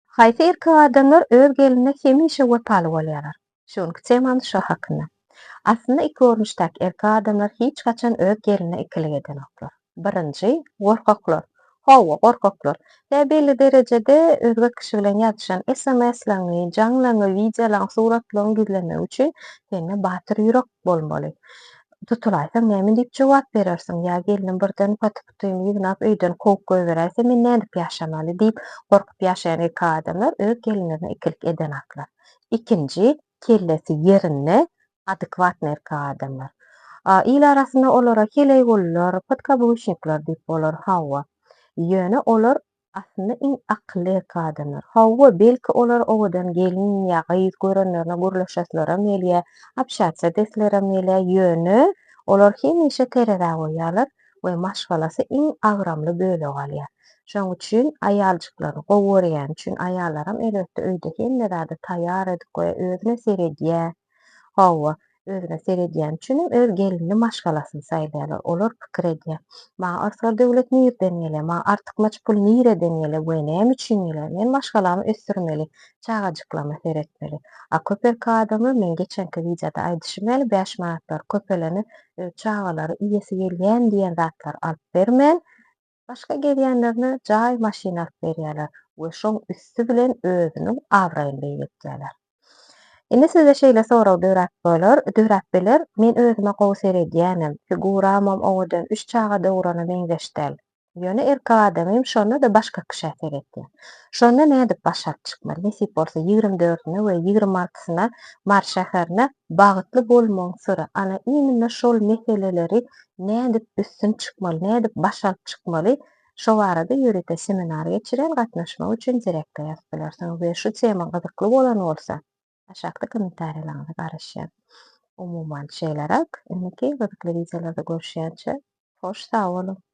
Haýsy erkek adamlar öz gelnine hemişe wepaly bolýarlar? Şu günki temamyz şo hakynda. Aslynda iki görnüşdäki erkek adamlar hiç haçan öz gelnine ikilik edenoklar. Birinji, gorkaklar. Hawa, gorkaklar. Ýa belli derejede özge kişi bilen ýazyşan sms-laňy, jaňlaňy, wideolaňy, suratlaňy gizlemek üçin sende batyr ýürek bolmaly. Tutulaysaň näme diýip jogap berersiň? Ýa gelnim birden paty-putyny ýygnap öýden kowup goýbererse men nädip ýaşamaly? diýip gorkup ýaşaýan erkek adamlar öz gelinlerine ikilik edenaklar. Ikinji, kellesi ýerinde, adekwatny erkek adamlar. Il arasynda olara heleýgullar, podkabuşnikler diýip bolar, hawa. Ýöne olar Aslynda iň akylly erkek adamlar. Hawa, belki olar owadan gelin ýa gyz görenlerine gürleşesileram gelýär, obşatsiýa desleram gelýär, ýöne olar hemişe terezä goýýarlar we maşgalasy iň agramly bölegi alýar. Şonuň üçin aýaljyklaryny gowy görýäni üçin aýallaram elbetde öýde hemme zady taýýar edip goýýar, özüne seredýär. Hawa, özüne seredýäni üçinem öz gelinini maşgalasyny saýlaýarlar. Olar pikir edýär. Maňa arsga döwlet nirden gelýär? Maňa artykmaç pul nireden gelýär we näme üçin gelýär? Men maşgalamy ösdürmeli, çagajyklaryma seretmeli. A köp erkek adamlar, meň geçenki wideoda aýdyşym ýaly, bäş manatlary köpelene öz çagalary iýesi gelýän diýen zatlary alyp bermän, Başga gezýänlerine jaý maşyn alyp berýärler we şoň üsti bilen özüniň abraýyny beýgeltýärler. Indi sizde şeýle sorag döräp bolar, döräp biler, men özüme gowy seredýänem, figuramam owadan, üç çaga dogurana meňzeş däl. Ýöne erkek adamym şonda-da başga kişä seretýär. Şonda nädip başaryp çykmaly? Nesip bolsa ýigrimi dördüne we ýigrimi altysyna Mary şäherine Bagytly bolmagyň syry, ana, iýminde şol meseleleri nädip üstün çykmaly, nädip baş alyp çykmaly, şo barada ýörite seminar geçirýän, gatnaşmak üçin direkte ýazyp bilersiňiz we şu tema gyzykly bolan bolsa, aşakda kommentariýalaryňyza garaşýan. Umuman, şeýleräk, indiki gyzykly wideolarda görüşýänçä, hoş sag boluň!